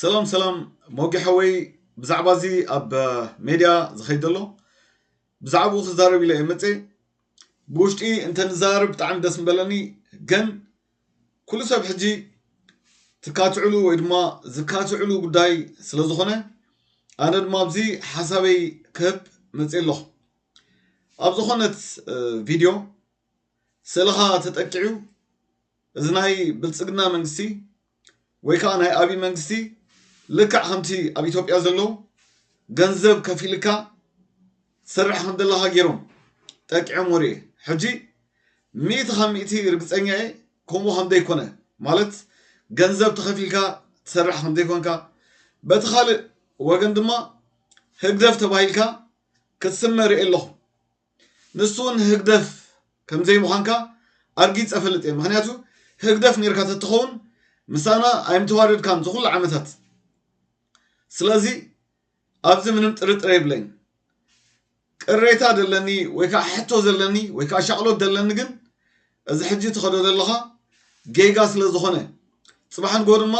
ሰላም ሰላም ሞጌ ሓወይ ብዛዕባ እዚ ኣብ ሜድያ ዝኸይድ ዘሎ ብዛዕባኡ ክዛረብ ኢለ እየ መፀ ብውሽጢ እንተንዛረብ ብጣዕሚ ደስ ምበለኒ ግን ኩሉ ሰብ ሕጂ ትካትዕሉ ወይ ድማ ዝካትዕሉ ጉዳይ ስለ ዝኾነ ኣነ ድማ ኣብዚ ሓሳበይ ክህብ መፅእ ኣለኹ ኣብ ዝኾነት ቪድዮ ስእልኻ ተጠቂዑ እዚ ናይ ብልፅግና መንግስቲ ወይ ከዓ ናይ ኣብይ መንግስቲ ልክዕ ከምቲ ኣብ ኢትዮጵያ ዘሎ ገንዘብ ከፊልካ ትሰርሕ ከም ዘለኻ ገይሮም ጠቂዖም ወርየ ሕጂ ሚእቲ ካብ ሚእቲ ርግፀኛ እየ ከምኡ ከም ዘይኮነ ማለት ገንዘብ ተኸፊልካ ትሰርሕ ከም ዘይኮንካ በቲ ካልእ ወገን ድማ ህግደፍ ተባሂልካ ክትስመ ርእየ ኣለኹ። ንሱ ውን ህግደፍ ከምዘይ ምዃንካ ኣርጊጸ እፈልጥ እየ ምኽንያቱ ህግደፍ ኔርካ ተትኸውን ምሳና ኣይምተዋደድካን እዚ ኩሉ ዓመታት ስለዚ ኣብዚ ምንም ጥርጥር የብለይን። ቅሬታ ደለኒ ወይ ከዓ ሕቶ ዘለኒ ወይ ከዓ ሻቕሎት ደለኒ ግን እዚ ሕጂ ትኸዶ ዘለኻ ጌጋ ስለ ዝኾነ ጽባሕ ንጎ ድማ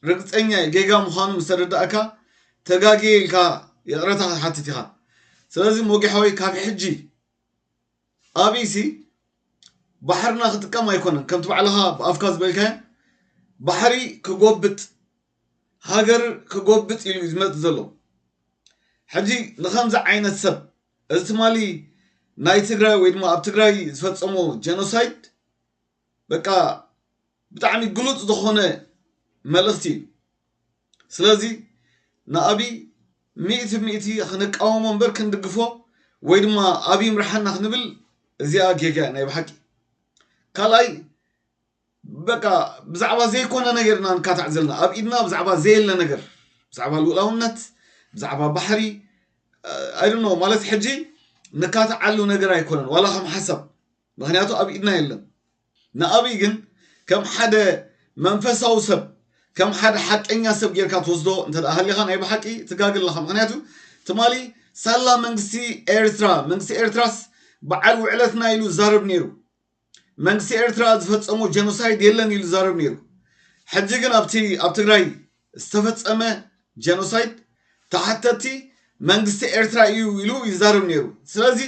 ርግጸኛ እየ ጌጋ ምዃኑ ምስ ተረዳእካ ተጋግየ ኢልካ ይቕረታ ክትሓትት ኢኻ። ስለዚ ሞጌ ሓወይ ካብ ሕጂ ኣብይሲ ባሕርና ክጥቀም ኣይኮነን ከምቲ ባዕልኻ ብኣፍካ ዝበልካዮ ባሕሪ ክጎብጥ ሃገር ክጎብጥ ኢሉ ዝመጽእ ዘሎ ሕጂ ንኸምዚ ዓይነት ሰብ እዚ ትማሊ ናይ ትግራይ ወይ ድማ ኣብ ትግራይ ዝፈጸሞ ጀኖሳይድ በቃ ብጣዕሚ ግሉጽ ዝኾነ መልእኽቲ እዩ። ስለዚ ንኣብይ ሚእቲ ሚእቲ ክንቃወሞ እምበር ክንድግፎ ወይ ድማ ኣብይ ይምርሓና ክንብል እዚኣ ጌጋ እያ ናይ ብሓቂ። ካልኣይ በቃ ብዛዕባ ዘይኮነ ነገር ኢና ንካታዕ ዘለና ኣብ ኢድና ብዛዕባ ዘየለ ነገር ብዛዕባ ልኡላውነት ብዛዕባ ባሕሪ ኣይደኖ ማለት ሕጂ ንካታዓሉ ነገር ኣይኮነን ዋላ ከም ሓሳብ ምኽንያቱ ኣብ ኢድና የለን። ንኣብይ ግን ከም ሓደ መንፈሳዊ ሰብ ከም ሓደ ሓቀኛ ሰብ ጌርካ ትወስዶ እንተ ሃሊኻ ናይ ብሓቂ ትጋገ ኣለኻ ምኽንያቱ ትማሊ ሳላ መንግስቲ ኤርትራ መንግስቲ ኤርትራስ በዓል ውዕለትና ኢሉ ዛረብ ነይሩ መንግስቲ ኤርትራ ዝፈጸሞ ጀኖሳይድ የለን ኢሉ ዛረብ ነይሩ ሕጂ ግን ኣብቲ ኣብ ትግራይ ዝተፈጸመ ጀኖሳይድ ተሓተቲ መንግስቲ ኤርትራ እዩ ኢሉ ይዛረብ ነይሩ ስለዚ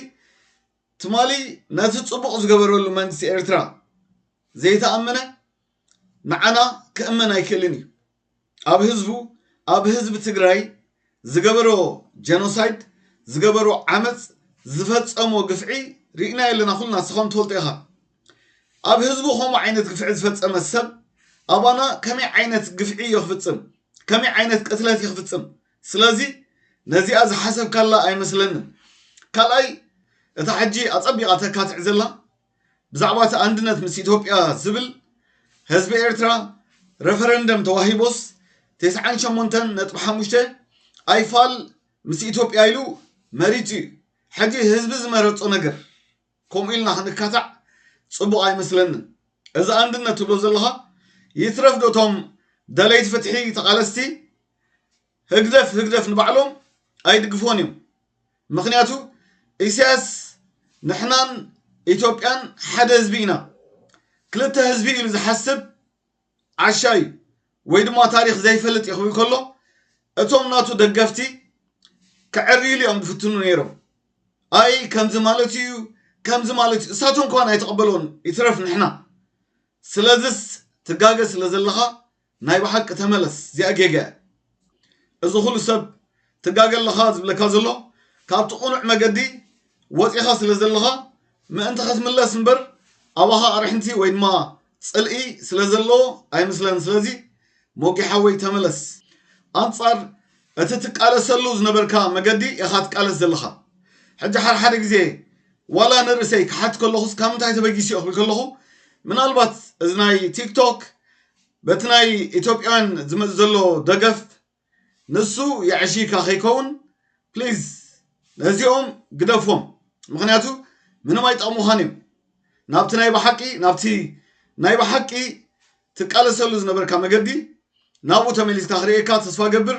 ትማሊ ነቲ ጽቡቕ ዝገበረሉ መንግስቲ ኤርትራ ዘይተኣመነ ንዓና ክእመን ኣይክእልን እዩ። ኣብ ህዝቡ ኣብ ህዝቢ ትግራይ ዝገበሮ ጀኖሳይድ ዝገበሮ ዓመጽ ዝፈጸሞ ግፍዒ ርኢናዮ ኣለና ኩልና ንስኻውን ትፈልጦ ኢኻ። ኣብ ህዝቡ ከምኡ ዓይነት ግፍዒ ዝፈጸመ ሰብ ኣባና ከመይ ዓይነት ግፍዒ እዩ ክፍጽም ከመይ ዓይነት ቅትለት እዩ ክፍጽም ስለዚ ነዚኣ ዝሓሰብካላ ኣይመስለንን። ካልኣይ እታ ሕጂ ኣጸቢቓ ተካትዕ ዘላ ብዛዕባ እቲ ኣንድነት ምስ ኢትዮጵያ ዝብል ህዝቢ ኤርትራ ረፈረንደም ተዋሂቦስ ተስዓን ሸሞንተን ነጥቢ ሓሙሽተ ኣይፋል ምስ ኢትዮጵያ ኢሉ መሪጹ እዩ። ሕጂ ህዝቢ ዝመረጾ ነገር ከምኡ ኢልና ክንካታዕ ጽቡቅ ኣይመስለንን እዚ ኣንድነት ትብሎ ዘለኻ ይትረፍ ዶ እቶም ደለይቲ ፍትሒ ተቃለስቲ ህግደፍ ህግደፍ ንባዕሎም ኣይድግፎን እዮም ምክንያቱ ኢሳያስ ንሕናን ኢትዮጵያን ሓደ ህዝቢ ኢና ክልተ ህዝቢ ኢሉ ዝሓስብ ዓሻ እዩ ወይ ድማ ታሪኽ ዘይፈልጥ እዩ ክብል ከሎ እቶም ናቱ ደገፍቲ ከዕርይሉ እዮም ዝፍትኑ ነይሮም ኣይ ከምዚ ማለት እዩ ከምዚ ማለት እዩ እሳቶም እንኳን ኣይተቐበሎን ይትረፍ ንሕና ስለዝስ ትጋገ ስለ ዘለኻ ናይ ብሓቂ ተመለስ እዚኣ ጌጋ እያ እዚ ኹሉ ሰብ ትጋገ ኣለኻ ዝብለካ ዘሎ ካብቲ ቁኑዕ መገዲ ወጺኻ ስለ ዘለኻ ምእንቲ ከትምለስ እምበር ኣባኻ ኣርሕንቲ ወይ ድማ ጽልኢ ስለ ዘለዎ ኣይምስለን ስለዚ ሞጊ ሓወይ ተመለስ ኣንጻር እቲ ትቃለሰሉ ዝነበርካ መገዲ ኢኻ ትቃለስ ዘለኻ ሕጂ ሓድሓደ ግዜ ዋላ ንርእሰይ ክሓት ከለኹስ ካብ ምንታይ ተበጊሱ እየ ክብል ከለኹ ምናልባት እዚ ናይ ቲክቶክ በቲ ናይ ኢትዮጵያውያን ዝመጽእ ዘሎ ደገፍ ንሱ የዕሽይካ ከይከውን ፕሊዝ ነዚኦም ግደፎም ምክንያቱ ምንም ኣይጠቕሙኻን እዮም ናብቲ ናይ ብሓቂ ናብቲ ናይ ብሓቂ ትቃለሰሉ ዝነበርካ መገዲ ናብኡ ተመሊስካ ክርእየካ ተስፋ ገብር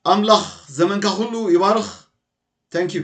ኣምላኽ ዘመንካ ኩሉ ይባርኽ ታንኪዩ